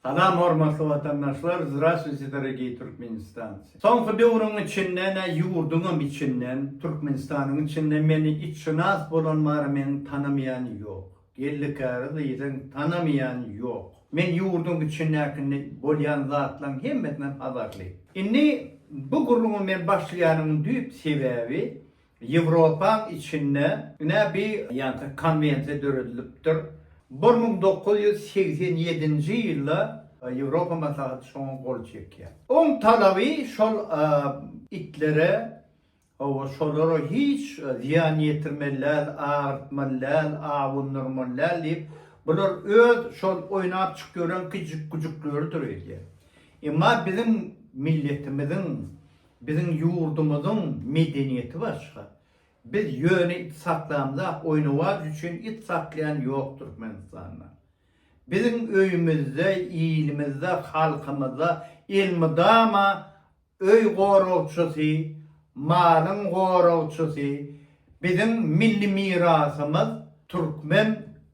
Salam hormatly watandaşlar Zdrasviti dorogiý Türkmenistanci. Soňky döwrüň içinde ne ýurduňam içinden Türkmenistanyň içinde meni itşynas bolan bar meni tanamaýan ýok. Geldi käri diýseň tanamaýan ýok. Men ýurduň içindäkinde bolýan zatlaň hemmesinden habarly. Indi bu gürrüňi men başlaýanymyň düýp sebäbi Ýewropaň içinde ine bi ýanka konwensiýa döredilipdir. Bir müň dokuz ýüz segsen ýedinji ýylda Ýewropa maslahaty şoňa gol çekýär. Oň talaby şol itlere hawa şolara hiç zyýan ýetirmeli däl, agyrtmaly däl, awundyrmaly däl diýip, bular öz şol oýnap çykyp ýören kiçijik güjükleridir öýdýär. Emma biziň milletimiziň Biziň ýurdumyzyň medeniýeti başga. Biz ýöne it saklamzak oýnawaç üçin it saklaýan ýok Türkmenistanda. Biziň öýümizde, ilimizde, halkymyzda elmydama öý goragçysy, malyň goragçysy, biziň milli mirasymyz türkmen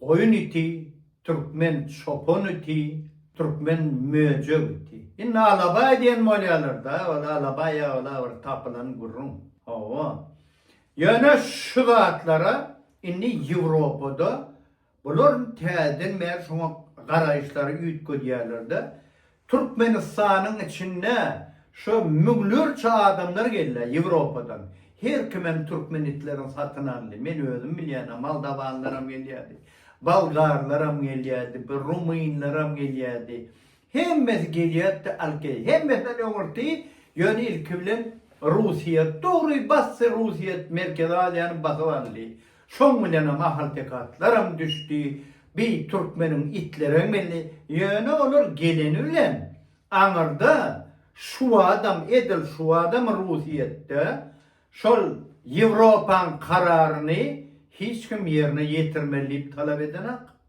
goýun iti. Türkmen çopan iti, türkmen möjek iti. Indi alabaý diýen bolýalar-da, ol alabaý ýa-ola bir tapylan gürrüň. Hawa. Ýöne şu zatlara indi Ýewropada bular täzeden bäri şoňa garaýyşlary üýtgedýärler-de, Türkmenistanyň içinde şo müňlerçe adamlar gelýär Ýewropadan. Her kim hem türkmen itlerini satyn aldy. Men özüm bilýäne moldawanlaram gelýärdi. Bolgarlaram gelýärdi, bir rumynlaram gelýärdi. Hemmesi gelýärdi alyp gidýärdi. Hemmesinden öňürti ýöne ilki bilen Russiýa, dogry basdy Russiýa Merkezi Aziýany basyp aldy. Şoň bilenem ahalteke atlaram düşdi, bi türkmeniň itleregem geldi, ýöne olar geleni bilen aňyrda şuadam edil şuadam ruhiyetde şol ýewropaň kararyny hiç kim ýerine ýetirmeli diýip talap edenak.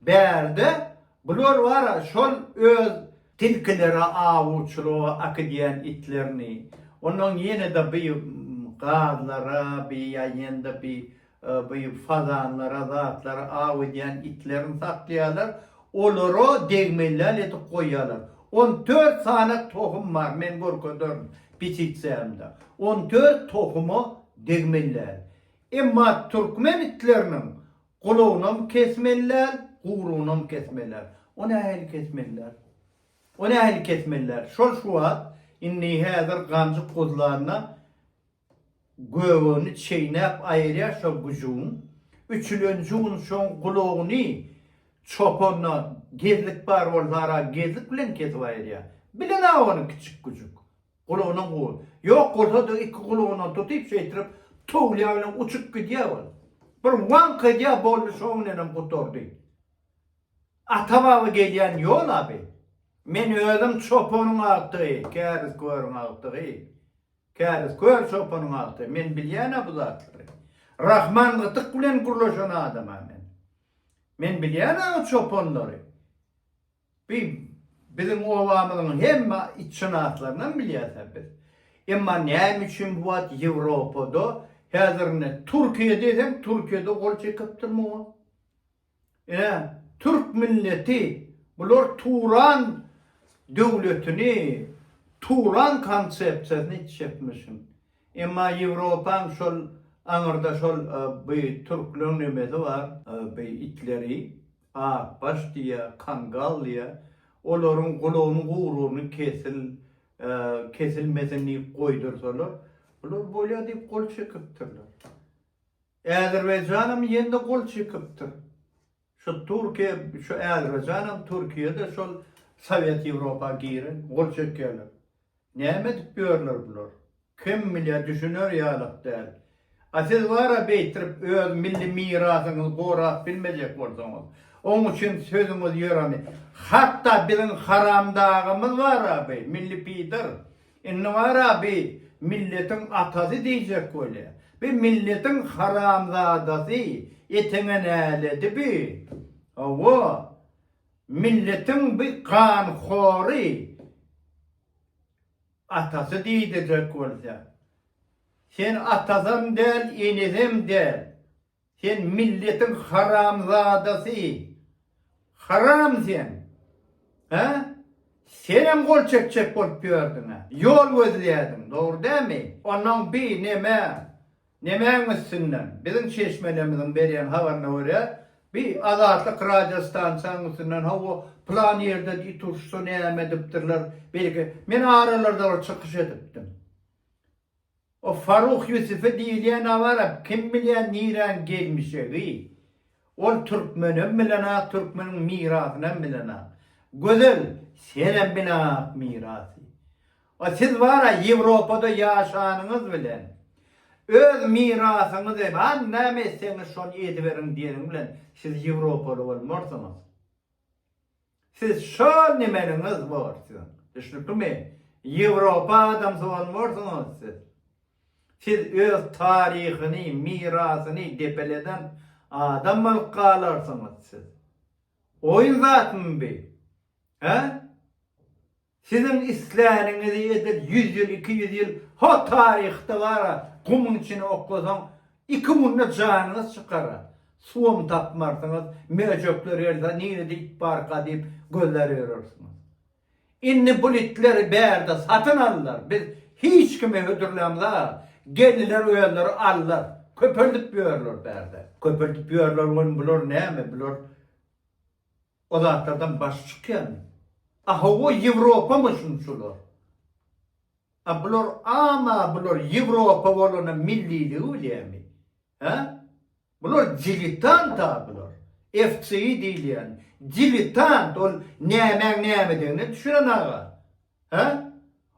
Bärde bular bar-a, şol öz. Tilkilere awuçylyga akydýan itlerini, ondan ýene-de bi gazlara, bi ýa-ýende bi bi fazanlara, zatlara aw edýän itlerini saklaýarlar, olara degmellal edip goýýarlar. On dört sany tohum bar, men görkezerin petitsiýamda. On dört tohuma degmellal. Emma türkmen itleriniň Gulagynam kesmeliler, gugrunam kesmeliler. O nähili kesmeliler? O nähili kesmeliler? Şol şu wagt, indi häzir ganjyk guzlanda göbegini çeýnäp aýyrýar şo güjügiň. Üçülenji gün şoň gulagyny çopana gezlik bar bolsa ara gezlik bilen kesip aýyrýar. Bilen-ä ony kiçik güjük. Gulagyna gowy. Ýok bolsa-da iki gulagyndan tutyp şeýtirip towulýan bilen uçup gidýär ol. Bir waňk edýär boldy şoň bilenem gutardy. Ata baba gelýän ýol aby. Men özüm çopanyň agtygy, käriz körüň agtygy. Käriz kör çopanyň agtygy. Men bilýän-ä bu zatlary. Rahman gytyk bilen gürleşen adam-ä men. Men bilýän-ä o çopanlary. Bi, biziň obamyzyň hemme itşynaslarynam bilýärsiňiz biz. Emma näme üçin bu wagt Ýewropada, häzir ine, Türkiýe diýseň, Türkiýede gol çekipdirmi o? Ine, türk milleti, bular Turan döwletini, Turan konsepsiýasyny itişipmi şun? Emma Ýewropaň şol aňyrda şol bi türkleriň nemesi bar, bi itleri. Akbaş diýýä, kangal diýýä. Olaryň gulagyny gugrugyny kesil, kesilmesin diýip goýdursalar, olar bolýa diýip gol çekipdirler. Äzerbaýjanam ýene-de gol çekipdir. Şu Türkiýe, şu Äzerbaýjanam Türkiýe-de şol Sowet Ýewropa giren, gol çekýärler. Näme edip ýörler bular? Kim bilýär, düşüner ýalak däl. A siz bara beýtirip öz milli mirasyňyzy gorap bilmejek bolsaňyz, oň üçin sözüňiz ýöremi? Hatda biziň haramdagymyz bara bi, milli pidar. Indi bara bi milletiň atasy diýjek bolýar. Bi milletiň haramzadasy, eteňe näledi bi? Hawa, Milletiň bi ganhory atasy diýdijek bolsa. Sen atasam däl enesem däl. Sen milletiň haramzadasy. Haram sen. Hä? Senem gol çekjek bolup ýördüňä. Ýol gözleýädiň dogry dämi? Ondan bi neme Nämäň üstünden? Biziň çeşmelerimiziň berýän habaryna görä, bi Azatlyk radio stansiýaň üstünden hawa, plan ýerde it urşsa näme edipdirler, belki, men aralarda bir çykyş edipdim. O Faruh Ýusufi diýilýän-ä bar-a, kim bilýän niräň gelmişegi. Ol türkmenem bilenok türkmeniň mirasynam bilenok. Gözel senem bilenok mirasy. O siz bara ýewropada ýaşanyňyz bilen öz mirasyňyzy bar näme etseňiz şony ediberiň diýeniň bilen siz ýewropaly bolmarsyňyz. Siz şol nimeliňiz bor siziň, düşnüklimi? Ýewropa adamsy bolmarsyňyz siz. Siz öz taryhyny, mirasyny depeleden adam bolup galarsyňyz siz. Oýun zatmy bi? Hä? Siziň isläniňizi edil ýüz ýyl, iki ýüz ýyl ho taryhda bar-a, gumuň içine oklasaň, iki günde janyňyz çykar-a. Suwam tapmarsyňyz, möjekler gelse, nirede it barka diýip gözlär ýörersiňiz. Indi bul itleri bärde satyn aldylar, biz hiç kime hödürlämza, gelniler özleri aldylar, köpeldip ýörler bärde. Köpeldip ýörler welin bular näme, bular. O zatlardan baş çykýarmy? A hawa Ýewropamy şunçular? A bular ama bular Ýewropa bolana milliligi bilýärmi? Hä? Bular dilitant a bular. FCI diýilýän dilitant ol nämäň nämedigine düşüren aga. Hä?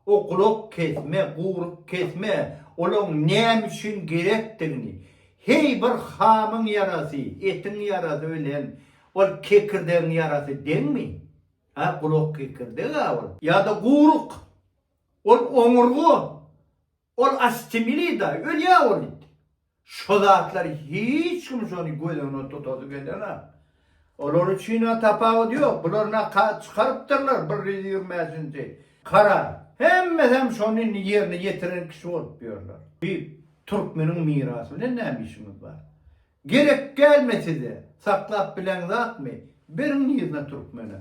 O gulak kesme, guryk kesme, olaň näme üçin gerekdigini, heý bir hamyň ýarasy, etiň ýarasy bilen ol kekirdegiň ýarasy deňmi? Hä, gulak kekirdeg-ä ol. Ýa-da guryk. Ol oňurga. Ol astimilida ölýä ol it. Şo zatlar hiç kim şony göz öňüne tutasy gelenok. Olar üçina tapawut ýok. Bular nakat çykarypdyrlar bir ýüz ýigrimi bäşinji karar. Hemmesem şony ýerine ýetiren kişi bolup ýörler. Diýip, türkmeniň mirasy bilen näme işiňiz bar? Gerek dälmi size? Saklap bileňzakmy? Beriň yzyna türkmene.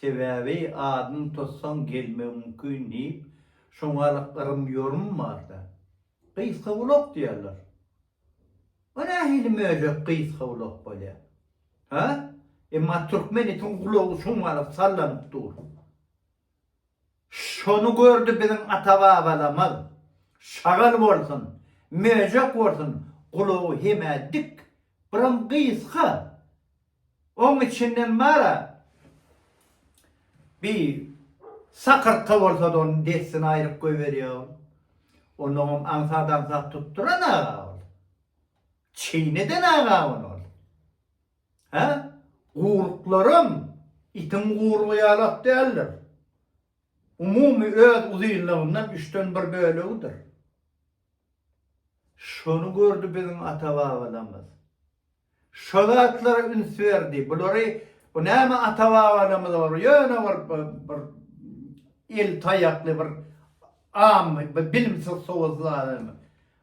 Sebäbi adyny tutsaň gelmegi mümkin diýip, şoňalyk yrym-ýorym bar-da. Gysgagulak diýerler. O nähili möjek gysgagulak bolýar? Hä? Emma türkmen itiň gulagy şoňalyk sallanyp dur. Şony gördi biziň ata-babalamyz. Şagal bolsun, möjek bolsun gulagy hemä dik, biram gysga. Oň içinden bar-a, bi sakyrtga bolsa-da ony dessine aýryp goýberýä ol. Onuňam aňsat-aňsat tutduran aga ol. Çyn eden aga ony ol. Hä, guryklaram itiň gurygy ýalak däldir. Umumy öz uzynlygyndan üçden bir bölegidir. Şony gördi biziň ata-babalarymyz. Şo zatlara üns berdi. Bulary bu näme ata-babalarymyz olar ýöne bir bir el taýakly bir am bir bilimsiz sowuzly adam.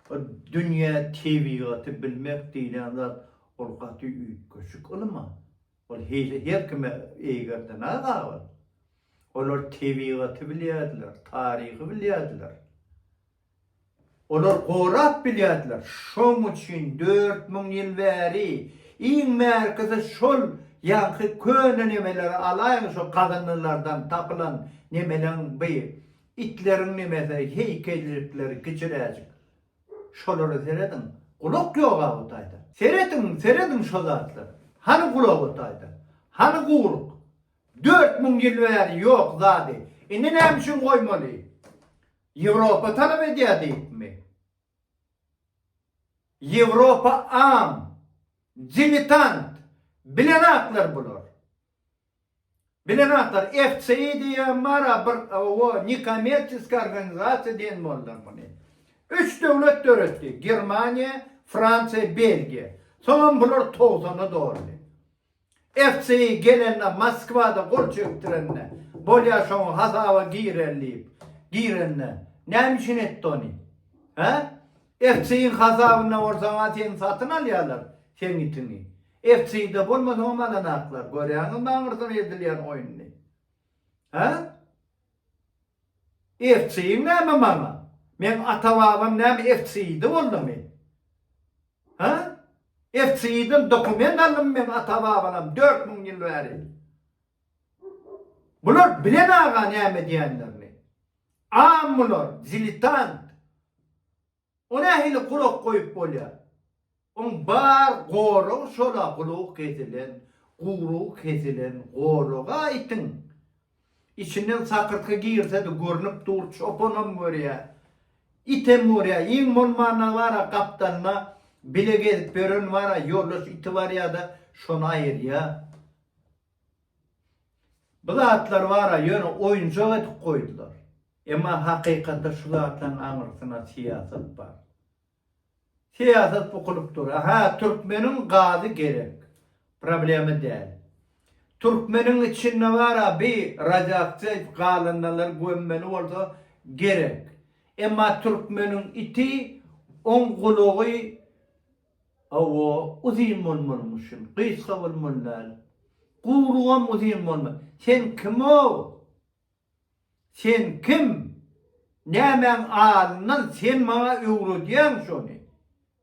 Bu dünýä tebigaty bilmek diýlen zat Ol gaty üýtgeşik ylym-a. Ol hili her kime eýgerden-ä gabyl. Olar tebigaty bilýärdiler, taryhy bilýärdiler. Olar gorap bilýärdiler. Şoň üçin dört müň ýyl bäri iň bärkisi şol ýaňky köne nemeleri alaýyň şo gazyndylardan tapylan nemeleň bi itleriň nemesi heýkellikleri kiçiräjik. Şolara serediň, gulak ýok a bu taýda. Serediň, serediň şo zatlara. Hany gulak o taýda? Hany guwruk? Dört müň ýyl bäri ýok zady. Indi näme üçin goýmaly? Ýewropa talap edýär diýipmi? Ýewropa am, diletant, bilenaklar bular. Bilen atar FCI diýýän bara bir owo nikomerçiski organizasiýa diýen boldular muny. Üç döwlet döretdi Germaniýa, Fransiýa, Belgiýa. Soňam bular togsana doldy. FCI gelende Moskwada gol çekdirende bolýa şoňa hasaba girer diýip girende näme üçin etdi ony? Hä? FCI-iň hasabynda bolsaňa seni satyn alýarlar seň itiňi. Ertide bolmaz hom alanaklar görýäňizmi aňyrdan edilýän oýnuny. Hä? Ertigiň näme maňa? Meň ata babam näme ertidi boldumy? Hä? Ertiden dokument aldym meň ata babalam dört müň ýyl bäri. Bular bilen aga näme edýänlerini. Am bular, dilitant. O nähili gulak goýup bolýa? Oň bar goragy şola gulugy kesilen, gurugy kesilen goraga itiň içinden sakyrtgy girsedi görnüp dur çopanam görýä item görýä iň bolmanda bara gapdalna bile gezip ýören bara ýoldaş iti barýada şony aýyrýa. Bu zatlar bar-a, ýöne oýunjak edip goýdular. Emma hakykatda şu zatlaryň aňyrsyna syýasat bar. Syýasat bukulyp dur. Aha, türkmeniň gazy gerek. Problema däl. Türkmeniň içinde bar-a bi radioaktiw galyndylar gömmeli bolsa gerek. Emma türkmeniň iti, oň gulagy, Hawa, uzyn bolmalymyşyn, gysga bolmaly däl. Guwrugam uzyn bolmaly. Sen kim-ow? Sen kim? Nämäň alyndan sen maňa öwredýäň şony?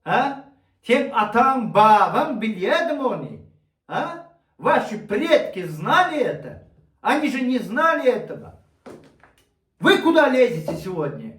Hä? Seň ataň, babaň bilýädimi ony? Hä? Waşi predki znali eta? Oni že ne znali etoga? Wy kuda lezete segodnje?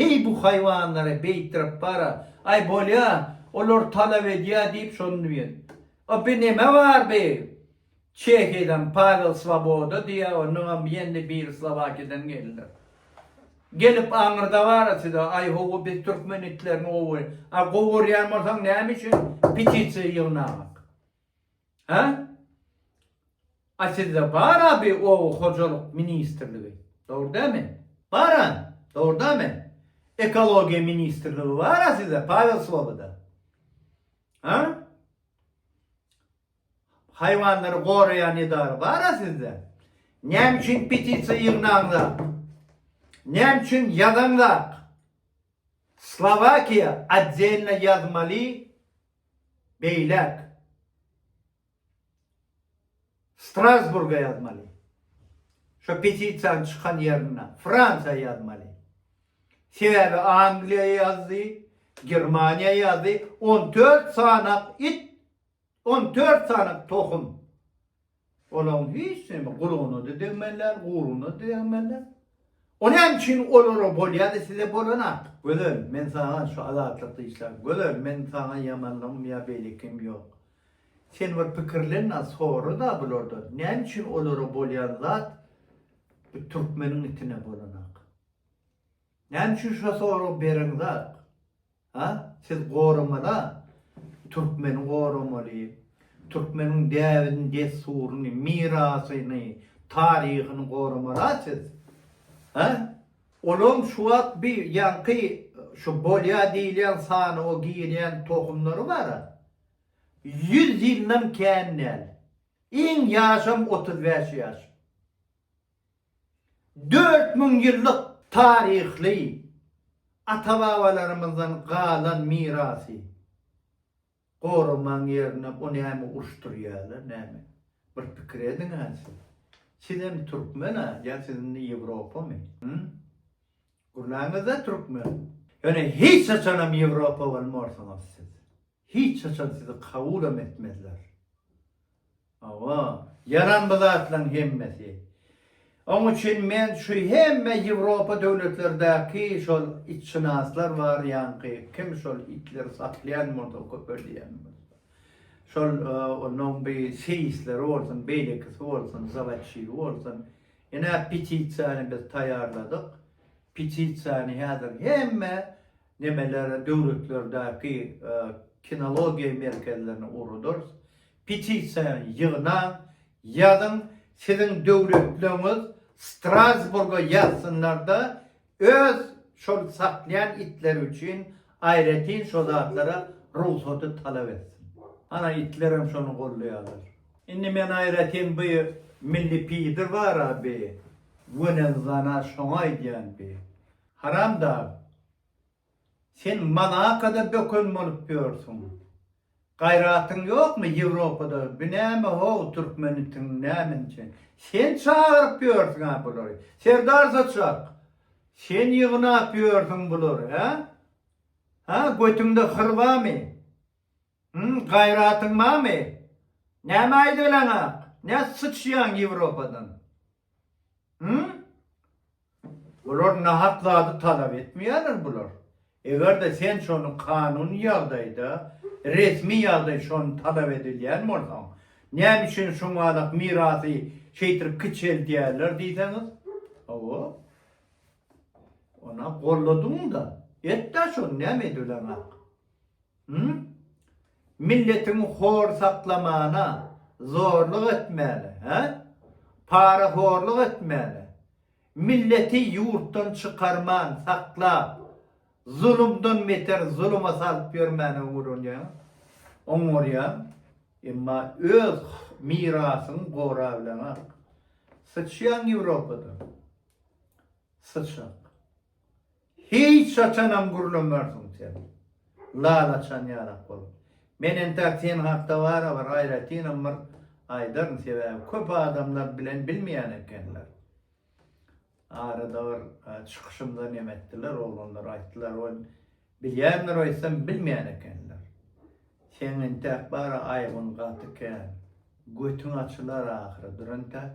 Heý bu haýwanlara beýtdirip bara, aý bolýa, olar talap edýä diýip şony diýen. A bi neme bar bi? Çehiýadan Pawel Swoboda diýä, ondanam ýendi biri Slowakiýadan geldiler. Gelip aňyrdabara size, aý howwa biz türkmen itlerini gowy, a gowy görýän bolsaň näme üçin petisiýa ýygnamak? Hä? A sizde bar-a bi oba hojalyk ministrligi, dogry dämi? Bar-a, dogry dämi? Ekologiýa ministrligi bar-a sizde Pawel Sloboda? Hä? Haýwanlary goraýan edara bar-a sizde? Näme üçin petisiýa ýygnaňzak? Näme üçin ýazaňzak? Slowakiýa otdelna ýazmaly Beýläk. Strasburga ýazmaly. Şo petisiýanyň çykan ýerine, Fransiýa ýazmaly. Sebäbi Angliýa ýazdy, Germaniýa ýazdy, on dört sanak it, on dört sanak tohum. Olaryň hiç näme gulagynada degmeli däl, guruna degmeli däl. O näme üçin olara bolýady, size bolan artyk. Gözel, men saňa şu Azatlykda işläp, Gözel, men saňa ýamanlygym ýa beýlekigim ýok. Sen bir pikirlen-de, sora-da bulardan, näme üçin olara bolýan zat bu türkmeniň itine bolanok. Näme üçin şo soragy bereňzok. Ha, siz goramaly-a, türkmeni goramaly, türkmeniň däbini, dessuryny, mirasyny, taryhyny goramaly-a siz. Ha? Olaň şu wagt bi ýaňky şu bolýa diýilýän sanawa girýän tohumlary bar-a, ýüz ýyldan kän däl. Iň ýaşam otuz bäş ýaş. Dört müň ýyllyk taryhly ata-babalarymyzdan galan mirasy goramaň ýerine o näme uruşdyrýarlar näme? Bir pikir ediň-ä siz. Sizem türkmen-ä ýa siz indi ýewropamy? Hü? Gurnaňyzda türkmen. Ýöne hiç haçanam ýewropa bolmarsyňyz siz. Hiç haçan sizi kabulam etmezler. Hawa, ýaran bu zatlaryň hemmesi. Oň üçin men şu hemme Ýewropa döwletlerdäki şol itşynaslar bar ýaňky, kim şol itleri saklaýan bolsa, köpelýän bolsa. Şol onuň bi seýisleri bolsun, beýlekisi bolsun, zawodçigi bolsun. Ine, petisiýany biz taýýarladyk. Petisiýany häzir hemme nemeler döwletlerdäki kinologiýa merkezlerine ugradarys. Petisiýany ýygnaň, ýazyň, siziň döwletleňiz Strasburga ýazsynlarda öz şol saklaýan itleri üçin aýratyn şo zatlara rugsaty talap etsin. Ana itlerem şony gollaýarlar. Indi men aýratyn bu milli pidr bara bi gönezlana şoňa aýdýan bi. Haramdag, sen Monakada böken bolup ýörsüň. Gaýratyň ýokmy Ýewropada bi näme how türkmenitiň nämençe sen çagyryp ýörsüňä bulary. Serdar saçak, sen ýygnap ýörsüň bulary hä? Hä götüňde hyr bamy? Hum gaýratyň barmy? Näme aýdalaňak? Nä syçýaň Ýewropadan? Hum? Bular nahak zady talap etmeýärler bular. Eger-de sen şony kanuny ýagdaýda, resmi ýagdaý şony talap edilýän bolsaň, näme üçin şuňalak mirasy şeýtirip kiçeldýärler diýseňiz? Hawa. Ona golladym-da. Et-dä şony näme edelaňak? Hum? Milletiň hor saklamana, zorluk etmäne, hä? Parahorluk etmäne, milleti ýurtdan çykarman saklap, zulumdan beter zuluma salyp ýörmäne oňurýaň, oňurýaň, emma öz mirasyňy gorabileňok. Syçýaň Ýewropada. Syçak. Hiç haçanam gürlemersiň sen. Lal açan ýalak bolup. Men entäk sen hakda bara bir aýratynam bir aýdaryn sebäbi köp adamlar bilen bilmeýän ekenler. Arada bir çykyşymda neme etdiler oglanlar aýtdylar ol bilýändir aýtsam bilmeýän ekenler. Seň entäk bara aýbyň gaty kän. Götüň açylar ahyry dur entäk.